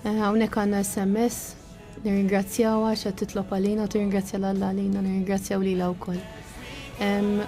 Eh, hawnhekk għandna SMS, nirringrazzjaw għax qed titlob għalina u tirringrazzja l alla għalina, nirringrazzjaw lilha wkoll.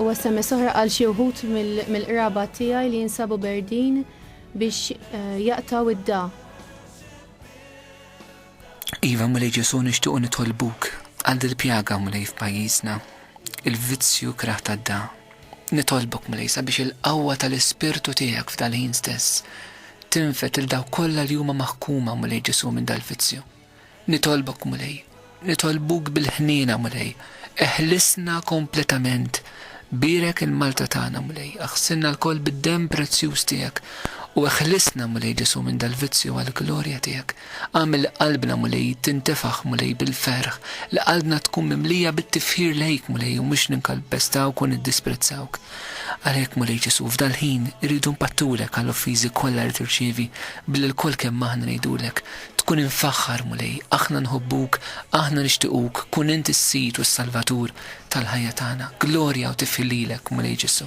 U SMS oħra għal xi wħud mill-qraba tiegħi li jinsabu berdin biex eh, jaqtaw id-da. Iva mlej Ġesu nixtiequ nitolbuk għal dil-pjaga mlej f'pajjiżna, il-vizzju kraħ tad-da. Nitolbok, Mulej, sabiex il-qawwa tal-Ispirtu tiegħek f'dal-ħin stess tinfed lil dawk kollha li huma maħkuma, Mulej Ġesù, minn dal-vizzju. Nitolbok, Mulej, nitolbuk bil-ħniena, Mulej, eħlisna kompletament, bierek il-Malta tagħna, Mulej, aħsilna lkoll bid-demm prezzjuż tiegħek u eħlisna, Mulej Ġesù, minn dal-vizzju għall-glorja tiegħek. Agħmel li qalbna, Mulej, tintefaħ, Mulej, bil-ferħ, li qalbna tkun mimlija bit-tifħir lejk, Mulej, u mhux ninkalpestawk u niddispprezzawk. Għalhekk, Mulej Ġesù, f'dal-ħin irridu npattulek għall-offiżi kollha li tirċievi billi lkoll kemm aħna ngħidulek, Tkun imfaħħar, Mulej, aħna nħobbuk, aħna nixtiequk, kun int is-Sid u s-Salvatur tal-ħajja tagħna. Glorja u tifħir lilek, Mulej Ġesù.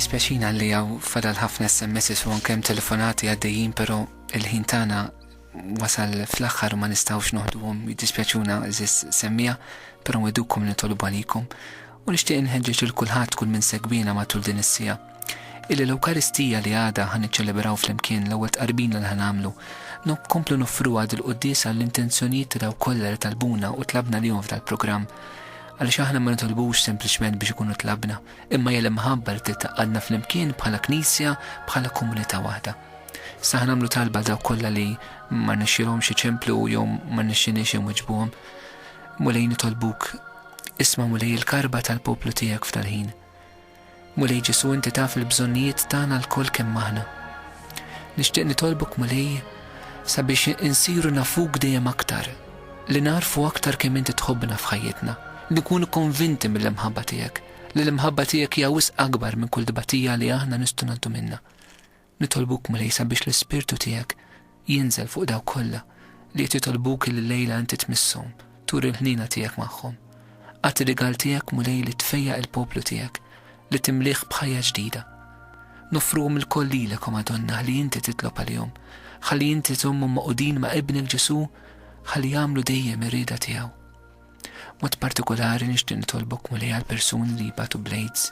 Dispjaċina li għaw fadal ħafna SMS u ankem telefonati għaddejjin, pero il-ħin tana wasal fl-axħar ma nistawx noħduhom jiddispjaċuna zis semmija, pero nwedukom nitolbu għalikom U nixtieq inħeġġeġ lil kulħadd kull min segwiena matul din is-siegħa, illi l-Ewkaristija li għada ħa niċċelebraw flimkien, l-ewwel tqarbina li ħa nagħmlu, nkomplu noffruha dil-quddiesa għall-intenzjonijiet ta' dawk kollha li talbuna u tlabna lihom f'dal-programm. Għaliex aħna ma nitolbux sempliċement biex ikunu tlabna, imma hija l-imħabba li trid tgħaqqadna flimkien bħala Knisja, bħala komunità waħda. Sa ħa nagħmlu talba dawk kollha li ma rnexxielhomx iċemplu jew ma rnexxiniex inwiġbuhom. Mulej nitolbuk Isma', Mulej, il-karba tal-poplu tiegħek f'dal-ħin. Mulej Ġesù, inti taf il-bżonnijiet tagħna lkoll kemm aħna. Nixtieq nitolbok, Mulej, sabiex insiru nafuk dejjem aktar, li nagħrfu aktar kemm inti tħobbna f'ħajjitna, li nkunu konvinti mill-imħabba tiegħek, li l-imħabba tiegħek hija wisq akbar minn kull tbatija li aħna nistgħu ngħaddu minnha. Nitolbuk, Mulej, sabiex l-Ispirtu tiegħek jinżel fuq dawk kollha li qed jitolbuk illi llejla inti tmisshom, turi l-ħniena tiegħek magħhom. Agħti rigal tiegħek, Mulej, li tfejjaq il-poplu tiegħek, li timlieh b'ħajja ġdida. Noffruhom ilkoll lilek, o Madonna, ħalli inti titlob għalihom, ħalli inti tżommhom magħqudin ma' Ibnek Ġesù ħalli jagħmlu dejjem ir-rieda tiegħu. B'mod partikulari nixtieq nitolbok Mulej għall-persuni li jbatu bl-AIDS.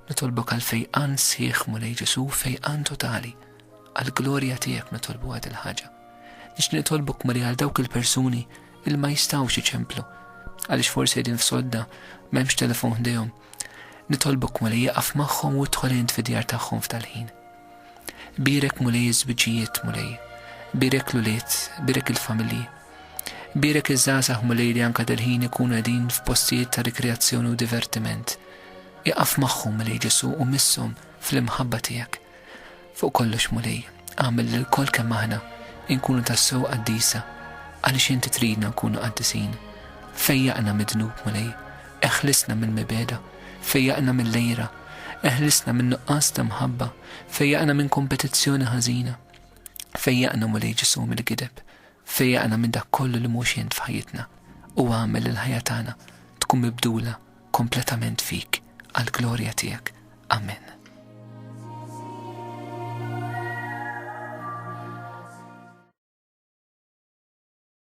Nitolbok għal fejqan sħiħ Mulej Ġesu' fejqan totali. Għall-glorja tiegħek nitolbuha dil-ħaġa. Nixtieq nitolbok Mulej għal dawk il-persuni illi ma jistgħux iċemplu għaliex forsi qegħdin f'sodda m'hemmx telefon ħdejhom. Nitolbok Mulej iqaf magħhom u idħol int fid-djar tagħhom f'dal-ħin. Bierek, Mulej, iż-żwiġijiet, Mulej. Bierek l-ulied, bierek il-familji. Bierek iż-żgħażagħ, Mulej, li anke dil-ħin ikunu qegħdin f'postijiet ta' rikreazzjoni u divertiment. Iqaf magħhom, Mulej Ġesù, u misshom fl-imħabba tiegħek. Fuq kollox, Mulej, agħmel li lkoll kemm aħna inkunu tassew qaddisa għaliex inti tridna nkunu qaddisin. Fejjaqna mid-dnub, Mulej, Eħlisna mill-mibegħda, fejjaqna mill-għira, eħlisna min-nuqqas ta' mħabba, fejjaqna minn kompetizzjoni ħażina. Fejjaqna, Mulej Ġesù, mill-gideb. Fejjaqna minn dak kollu li mhux int f'ħajjitna, u agħmel il-ħajja tagħna tkun mibdula kompletament fik, għall-glorja tiegħek. Amen.